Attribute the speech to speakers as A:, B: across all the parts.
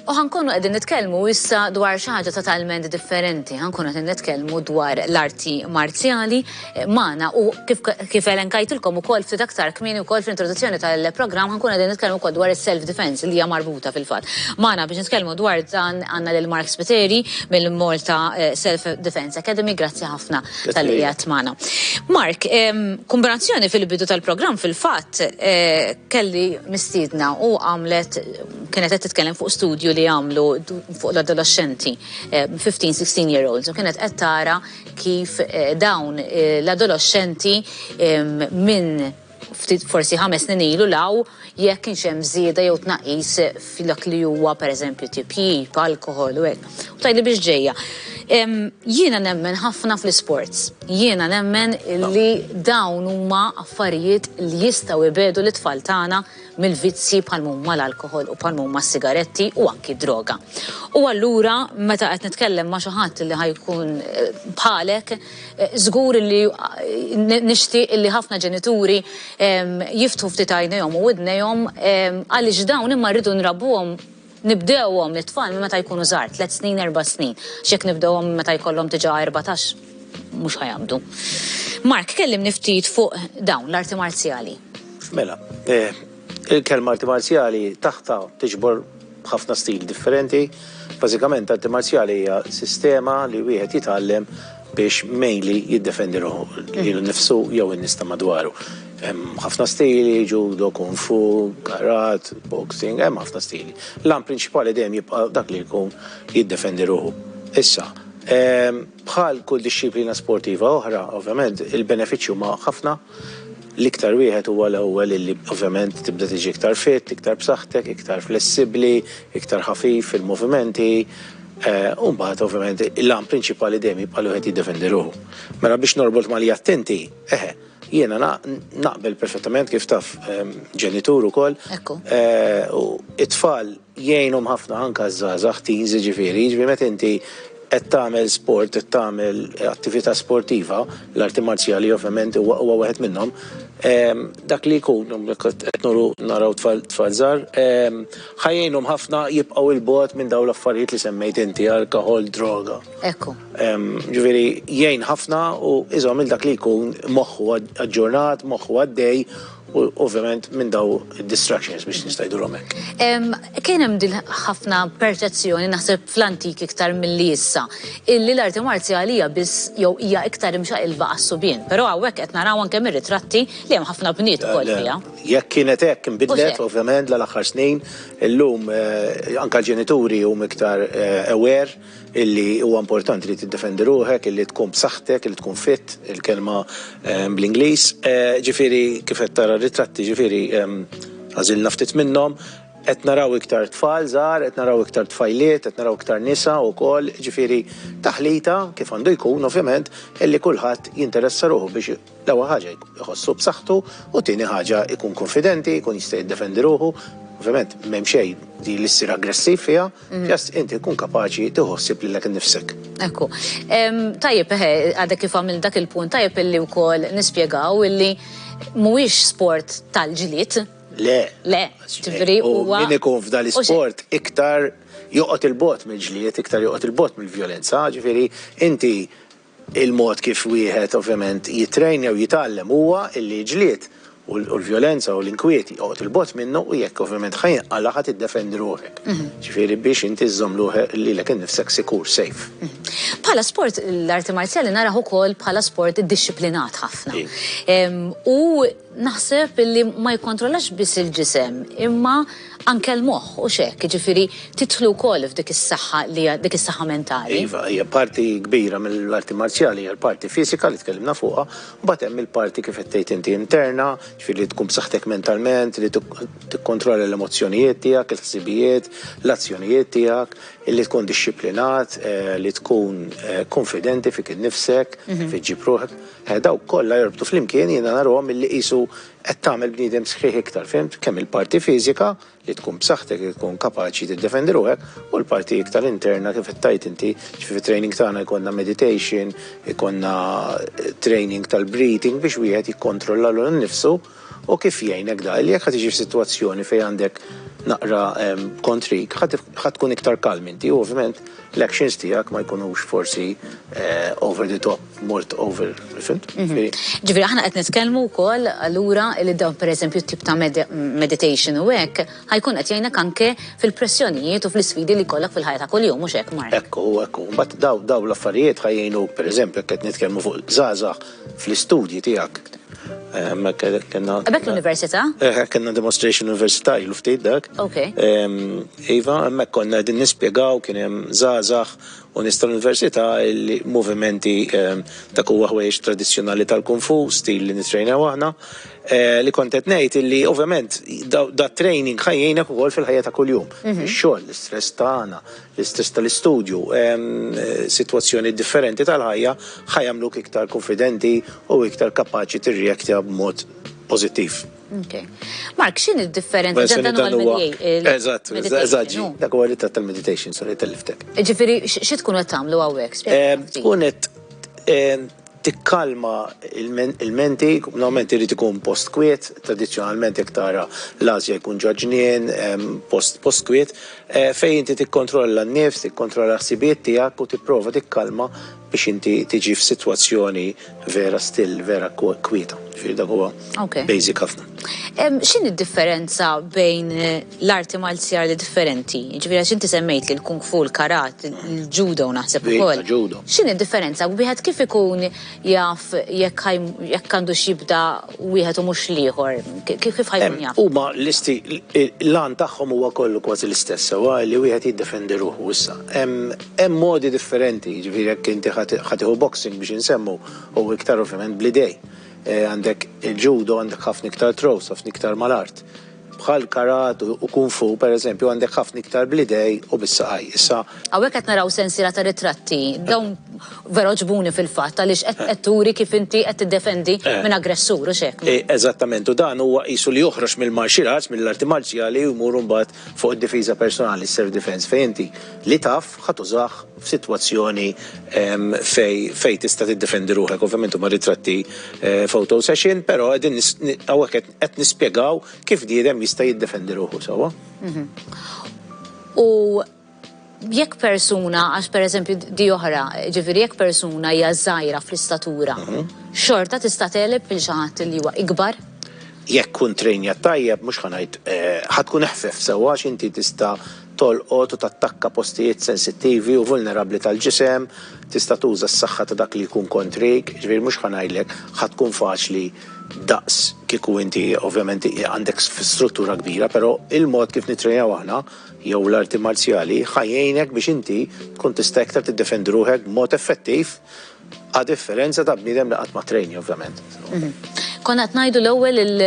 A: U ħankunu qegħdin nitkellmu issa dwar xi ħaġa totalment differenti, ħankunu qegħdin nitkellmu dwar l-arti marzjali eh, magħna u kif kif elenkajtilkom ukoll ftit aktar kmieni wkoll fl-introduzzjoni tal-programm ħankunu qegħdin nitkellmu wkoll dwar is-self defense li hija marbuta fil-fatt. Magħna biex nitkellmu dwar dan għandna lil Mark Spiteri mill-Malta eh, Self Defense Academy, grazzi ħafna tal-li qiegħed magħna. Mark, kombinazzjoni fil-bidu tal-programm fil-fatt eh, kelli mistiedna u għamlet kienet qed titkellem fuq studju li għamlu fuq l-adolescenti 15-16 eh, year olds u kienet qed tara kif eh, dawn l-adolescenti minn ftit forsi ħames snin ilu 'l hawn jekk kienx hemm żieda jew tnaqqis f'dak li huwa pereżempju tipjip, alkoħol u hekk. U tgħidli biex ġejja. Jiena nemmen ħafna fl-isports. Jiena nemmen li dawn huma affarijiet li jistgħu jbiegħdu lit-tfal tagħna mill-vizzji bħal m'huma l-alkoħol u bħal m'huma s-sigaretti u anki d-droga. U allura meta qed nitkellem ma' xi ħadd li ħa jkun bħalek, Żgur li nixtieq illi ħafna ġenituri jiftħu ftit għajnejhom u widnejhom għaliex dawn imma rridu nrabbuhom nibdewhom lit-tfal minn meta jkunu żgħar, tliet snin, erba' snin, għax jekk nibdewhom minn meta jkollhom diġà erbatax mhux ħa jaqbdu. Mark, kellimni ftit fuq dawn l-arti marzjali. Mela,
B: Il-kelma arti marzjali taħtha tiġbor ħafna stili differenti. Bażikament arti marzjali hija sistema li wieħed jitgħallem biex mainly jiddefendi ruħu, lilu nnifsu jew in-nies ta' madwaru. Hemm ħafna stili, judo, kung fu, karat, boxing, hemm ħafna stili. L-għan prinċipali dejjem jibqa' dak li jkun jiddefendi ruħu. Issa, Bħal kull dixxiplina sportiva oħra, ovvjament, il-benefiċċji huma ħafna. L-iktar wieħed huwa l-ewwel illi ovvjament tibda tiġi iktar fit, iktar b'saħħtek, iktar flessibbli, iktar ħafif fil-movimenti. U mbagħad ovvjament l-għan prinċipali dejjem jibqa' li wieħed jiddefendi ruħu. Mela biex norbot ma' li għedt inti, eħe, jiena naqbel perfettament kif taf ġenitur ukoll, it-tfal, jgħinhom ħafna anke ż-żgħażagħ, teens, jiġifieri, jiġifieri meta inti qed tagħmel sport, qed tagħmel attività sportiva, l-arti marzjali ovvjament huwa huwa wieħed minnhom, dak li jkun, qed nuru naraw tfal tfal żgħar, ħa jgħinhom ħafna jibqgħu 'il bogħod minn dawn l-affarijiet li semmejt inti, alkoħol, droga. Ekku.
A: Jiġifieri
B: jgħin ħafna u iżomm lil dak li jkun moħħu aġġornat, moħħu għaddej, U ovvjament minn daw distractions biex nista' ngħidulhom hekk. Kien hemm
A: din ħafna perċezzjoni naħseb fl-antik iktar milli issa, illi l-arti marzjali hija biss jew hija iktar imxaqilba għas-subien. Però hawnhekk qed naraw anke mir-ritratti li hemm ħafna bniet ukoll fiha. Jekk kienet hekk
B: inbidlet ovvjament l-aħħar snin, illum anke l-ġenituri huma iktar aware illi huwa importanti li tiddefendi ruħek, illi tkun b'saħħtek, illi tkun fit, il-kelma bl-Ingliż. Ġifieri kif qed tara r-ritratti, ġifieri għażilna ftit minnhom, qed naraw iktar tfal żgħar, qed naraw iktar tfajliet, qed naraw iktar nisa wkoll, ġifieri taħlita, kif għandu jkun ovvjament, illi kulħadd jinteressa ruħu biex L-ewwel ħaġa jħossu b'saħħtu u tieni ħaġa jkun kunfidenti, jkun jista' jiddefendi ruħu. Ovvjament m'hemm xejn li li ssir aggressiv fiha, just inti tkun kapaċi tieħu ħsieb lilek innifsek. Ekku.
A: Tajjeb eħe, għadek kif għamilt dak il-punt, tajjeb illi wkoll nispjegaw illi mhuwiex sport tal-ġlied. Le. Le, ġifieri huwa. U min ikun f'dan l-isport
B: iktar joqgħod il-bogħod mill-ġlied, iktar joqgħod il-bogħod mill-vjolenza, ġifieri inti Il-mod kif wieħed ovvjament jittrain jew jitgħallem huwa illi ġlied u l-vjolenza u l-inkwiet joqgħod 'il bogħod minnu u jekk ovvjament ħa jinqala' ħa tiddefendi ruħek. Ġifieri biex inti żżomm lilek innifsek sikur, safe. Bħala sport
A: l-arti marzjali narah ukoll bħala sport iddixxiplinat ħafna. U Naħseb illi ma jikkontrollax biss il-ġisem imma anke l-moħħ, hux hekk? Jiġifieri tidħlu wkoll f'dik is-saħħa li hija dik is-saħħa mentali. Iva, hija parti
B: kbira mill-arti marzjali hija l-parti fiżika li tkellimna fuqha, mbagħad hemm il-parti kif qed tgħid inti interna, ġifieri li tkun b'saħħtek mentalment, li tikkontrolla l-emozzjonijiet tiegħek, il-ħsibijiet, l-azzjonijiet tiegħek, li tkun dixxiplinat, eh, li tkun eh, konfidenti fik innifsek, mhm. fik ġib ruħek. Eh, dawk kollha jorbtu flimkien jiena narahom milli qisu qed tagħmel bniedem sħiħ iktar, fhimt? Kemm il-parti fiżika, li tkun b'saħħtek, li tkun kapaċi tiddefendi ruħek, u l-parti iktar interna kif qed tgħid inti, ġifi fit-training tagħna jkollna meditation, ikollna eh, training tal-breathing biex wieħed jikkontrolla l nnifsu U kif jgħinek da? Li jekk ħa tiġi f'sitwazzjoni fejn għandek naqra kontrik, ħa tkun iktar kalm inti u ovvjament l-actions tiegħek ma jkunux forsi over the top, mort over, fimt? Ġifieri aħna
A: qed nitkellmu wkoll allura li dawn pereżempju t-tip ta' meditation u hekk ħa jkun qed jgħinek anke fil-pressjonijiet u fl-isfidi li jkollok fil-ħajja ta' kuljum, mhux hekk Mark? Hekk hu, hekk hu. Imbagħad
B: dawn l-affarijiet ħa jgħinuk pereżempju jekk qed nitkellmu fuq żgħażagħ, fl-istudji tiegħek. Hemmhekk
A: kellna. Hemmhekk l-università? Eh, kellna demonstration
B: università ilu ftit dak. Ok.
A: Iva,
B: hemmhekk konna qegħdin nispjegaw kien hemm żgħażagħ u nies tal-università li movimenti ta' kuwa ħwejjeġ tradizzjonali tal-kung fu, stil li nitrejnew aħna, eh, li kont qed ngħid illi ovvjament da training ħajjejnek ukoll fil-ħajja ta' kuljum. Mhm. Ix-xogħol, l-istress tagħna, L-istress tal-istudju, sitwazzjoni differenti tal-ħajja ħa jagħmluk iktar kunfidenti u iktar kapaċi tirreaktja b'mod pożittiv. Ok.
A: Mark, x'inhi d-differenza? Ġa dan huwa l-meditation.
B: Eżatt, eżatt, ġi. Dak huwa ritratt tal-meditation, sorry, telliftek. Ġifieri, xi tkun
A: qed tagħmlu hawnhekk? Tkun
B: qed tikkalma l-ilmenti, normalment irid ikun post kwiet, tradizzjonalment jekk tara l-għażja jkun ġo ġnien, post post kwiet, fejn inti tikkontrolla n-nifs, tikkontrolla l-ħsibijiet tiegħek u tipprova tikkalma biex inti tiġi f'sitwazzjoni vera still, vera kwieta. Ġifieri dak huwa basic ħafna. X'inhi
A: d-differenza bejn l-arti marzjali differenti, jiġifieri għax inti semmejt li l-kung fu, l-karat, il-judo naħseb ukoll. X'inhi d-differenza? Wieħed kif ikun jaf jekk jekk għandux jibda wieħed u mhux l-ieħor? Kif ħa jkun jaf? Huma l-isti
B: l-għan tagħhom huwa kollu kważi l-istess sewwa li wieħed jiddefendi ruħu. Issa, hemm hemm modi differenti, jiġifieri jekk inti ħa tieħu boxing biex insemmu hu iktar ovvjament bl-idejn. Għandek il-judo għandek ħafna iktar throws, ħafna iktar mal-art. bħal karate u kung fu, pereżempju, għandek ħafna iktar bl-idej u bis-saqaj. Issa. Hawnhekk qed naraw
A: sensiela ta' ritratti. Dawn vera għoġbuni fil-fatt għaliex qed qed turi kif inti qed tiddefendi minn aggressur, hux hekk? Eżattament, u dan
B: huwa qisu li joħroġ mill-martial arts, mill-arti marċjali u jmur mbagħad fuq id-difiża personali, is-self defense, fejn inti li taf ħa tużah f'sitwazzjoni fejn fejn tista' tiddefendi ruħek. Ovvjament huma ritratti photo session, però qegħdin hawnhekk qed. Qed nispjegaw kif bniedem jista' jiddefendi ruħu sewwa.
A: U jekk persuna, għax per eżempju di oħra, ġifiri jekk persuna hija żgħira fl-istatura, mhm. xorta tista' teleb il xi ħadd li huwa ikbar? Jekk kun
B: trejnja tajjeb, mhux ħanajt eh, ħatkun eħfef sewwa x'inti tista' tolqot u tattakka postijiet sensittivi u vulnerabli tal-ġisem, tista' tuża s-saħħa ta' dak li jkun kontrik, ġifieri mhux ħanajlek ħatkun faċli daqs kieku inti ovvjament għandek struttura kbira, però il-mod kif nittrejnaw aħna jew l-arti marzjali ħa jgħinek biex inti tkun tista' iktar tiddefendi ruħek b'mod effettiv a differenza ta' bniedem li qatt ma ttrejni ovvjament. Konna
A: qed ngħidu l-ewwel il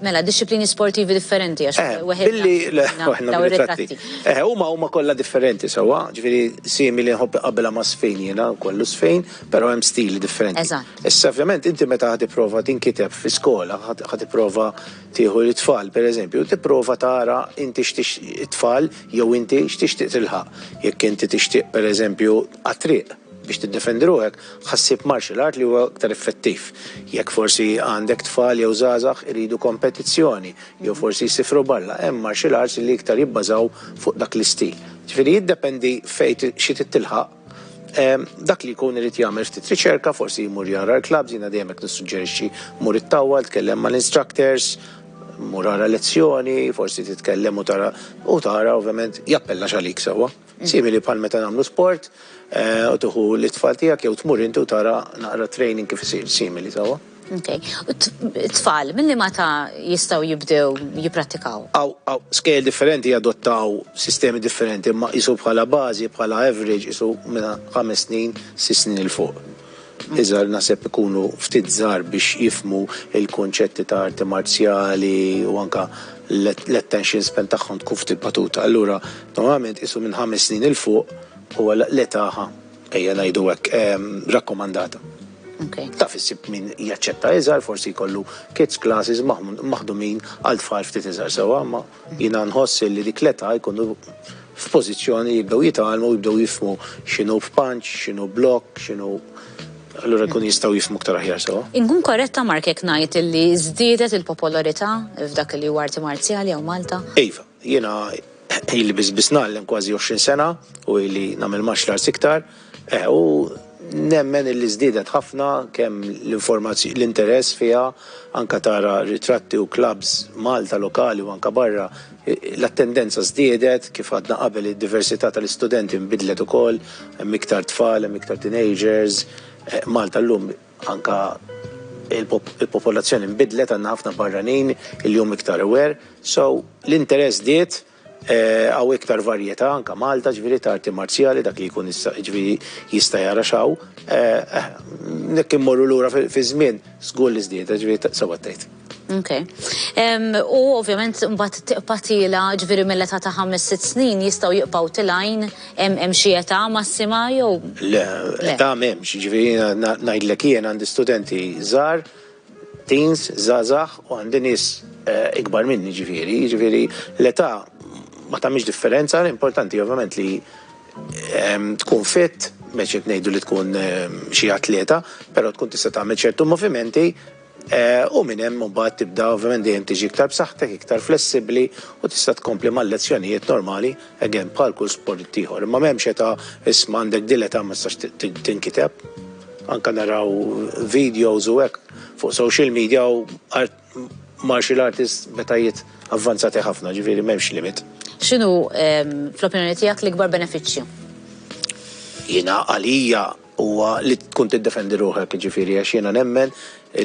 A: mela dixxiplini sportivi differenti għax eh, weħed. Billi dawn
B: ir-ritratti. Eh, huma huma kollha differenti sewwa, ġifieri simili nħobb qabbilha ma' sfejn jiena kollu sfejn, però hemm stili differenti. Issa ovvjament inti meta ħa tipprova tinkiteb fi skola, ħa tipprova tieħu lit-tfal pereżempju, tipprova tara inti x'tix it-tfal jew inti x'tixtieq tilħaq. Jekk inti tixtieq pereżempju għat-triq biex tiddefendi ruħek, ħa ssib martial art li huwa aktar effettiv. Jekk forsi għandek tfal jew żgħażagħ iridu kompetizzjoni jew forsi jsifru barra, hemm martial arts li iktar jibbażaw fuq dak l-istil. Ġifieri jiddependi fejn xi trid tilħaq. Dak li jkun irid jagħmel ftit riċerka, forsi jmur jara l-klabbs, jiena dejjem hekk nissuġġerixxi, mur ittawwal, tkellem mal-instructors, mur ara lezzjoni, forsi titkellem u tara, u tara ovvjament jappellax għalik sewwa. Simili bħal meta nagħmlu sport u tieħu lit-tfal tiegħek jew tmur inti u tara naqra t-training kif isir, simili sewwa. Okay. U
A: t-tfal, mill ma ta' jistaw jibdew jiprattikaw? Aw, aw, skejl
B: differenti jadottaw sistemi differenti, ma jisu bħala bazi, bħala average, jisu minna ħames snin, sis snin il-fuq. Iżar nasib ikunu ftit zar biex jifmu il-konċetti ta' arti marzjali u anka l-attention span tagħhom tkun ftit batuta. Allura, normalment jisu minn ħames snin il-fuq u l-etaħa, ejja najdu għek, ehm, rakkomandata. Taf issib min jaċċetta iżgħar, forsi jkollu kids classes maħdumin għal tfal ftit iżgħar sewwa, imma jiena nħoss li dik l-età jkunu f'pożizzjoni li jibdew jitgħallmu, jibdew jifhmu x'inhu punch, x'inhu block, x'inhu allura jkunu jistgħu jifhmu aktar aħjar sewwa. Inkun korretta Mark
A: jekk ngħid li żdiedet il-popolarità
B: f'dak
A: li huwa arti marzjali hawn Malta? Iva. Jiena
B: ili biss biss ngħallem kważi għoxrin sena u ili nagħmel martial arts iktar, eh, u nemmen illi żdiedet ħafna kemm l-informazzjoni, l-interess fiha, anke tara ritratti u klabbs Malta lokali u anke barra, l-attendenza żdiedet, kif għadna qabel id-diversità tal-istudenti nbidlet ukoll, hemm iktar tfal, hemm iktar teenagers, eh, Malta llum, Anke il-popolazzjoni nbidlet għandna ħafna barranin il-jum iktar aware so l-interess żdied hawn iktar varjetà anke Malta ġifieri ta' arti marzjali dak li jkun issa ġifieri jista' jara x'hawn jekk immorru lura fiż-żmien żgur li żdiedet ġifieri sewwa tgħid. Okay.
A: Um, u ovvjament mbagħad tiqpa' tila ġifieri mill-età ta' ħames sitt snin jistgħu jibqgħu tilajn hemm xi età massima jew. Le, età
B: m'hemmx, ġifieri ngħidlek jien għandi studenti żgħar, teens, żgħażagħ u għandi nies eh, ikbar minni ġifieri, ġifieri l-età ma tagħmilx differenza, l-importanti ovvjament li ehm, tkun fit, meċet ngħidu li tkun ehm, xi atleta, però tkun tista' tagħmel ċertu movimenti u minn hemm imbagħad tibda ovvjament dejjem tiġi iktar b'saħħtek, iktar flessibbli u tista' tkompli mal-lezzjonijiet normali, again bħal kull sport ieħor. Imma m'hemmx età isma' għandek din l-età ma tistax tinkiteb. Anke naraw videos u hekk fuq social media u art martial artists b'etajiet avvanzati ħafna, ġifieri m'hemmx limit. X'inhu
A: fl-opinjoni tiegħek l-ikbar benefiċċju?
B: Jiena għalija huwa li tkun tiddefendi ruħek, jiġifieri għax jiena nemmen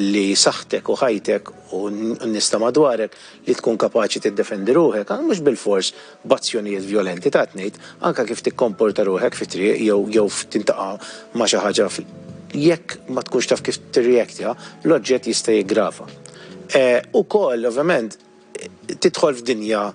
B: li saħħtek u ħajtek u n-nista madwarek li tkun kapaċi tiddefendi ruħek, anke mhux bilfors b'azzjonijiet vjolenti, ta' tnejt, anke kif tikkomporta ruħek fit-triq jew jew tintaqa' ma' xi ħaġa fl. Jekk ma tkunx taf kif tirreactja, l-oġġett jista' jiggrava. Ukoll, ovvjament, tidħol f'dinja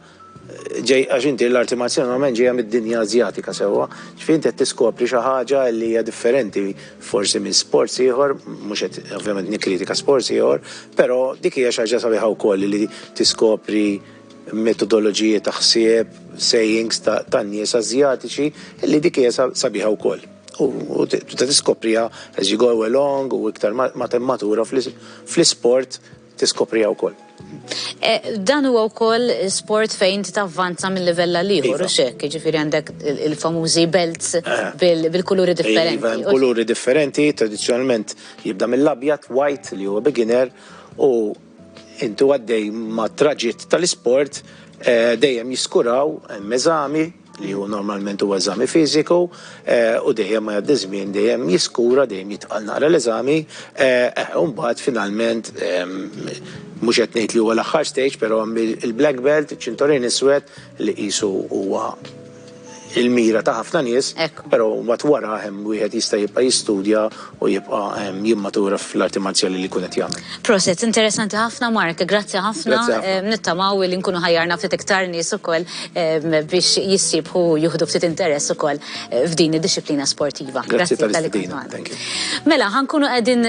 B: ġej għax inti l-arti marzjali normalment ġejja mid-dinja Azjatika sewwa, ġifieri inti qed tiskopri xi ħaġa li hija differenti forsi minn sports ieħor, mhux qed ovvjament nikkritika sports ieħor, però dik hija xi ħaġa sabiħa wkoll li tiskopri metodoloġiji ta' ħsieb, sayings ta' nies Azjatiċi li dik hija sabiħa wkoll. U tista' tiskopriha as you go along u iktar ma temmatura fl-isport tiskopriha wkoll. Eh,
A: dan huwa wkoll sport fejn ti tavvanza minn livell għal ieħor iva. u xekk, ġifieri għandek il-famużi belts eh. bil-kuluri iva, differenti. Iva, kuluri
B: differenti, tradizzjonalment jibda mill-abjad, white li huwa beginner u intu għaddej ma' traġit tal-isport eh, dejjem jiskuraw meżami li hu normalment huwa eżami fiżiku u dejjem ma jgħaddi żmien dejjem jiskura dejjem jitqal naqra l-eżami u mbagħad finalment mhux qed ngħid li huwa l-aħħar stage però għamli l-black belt, iċ-ċintorin iswed li qisu huwa il-mira ta' ħafna nies però mbagħad warah hemm wieħed jista' jibqa' jistudja u jibqa' jimmatura fl-arti marzjali li jkun qed jagħmel. Proset, interessanti
A: ħafna Mark, grazzi ħafna, nittamaw li nkunu ħajjarna ftit iktar nies ukoll biex jissiebħu u jieħdu ftit interess ukoll f'din id-dixxiplina
B: sportiva.
A: Grazzi tal-istedina.
B: Mela,
A: ħa nkunu qegħdin.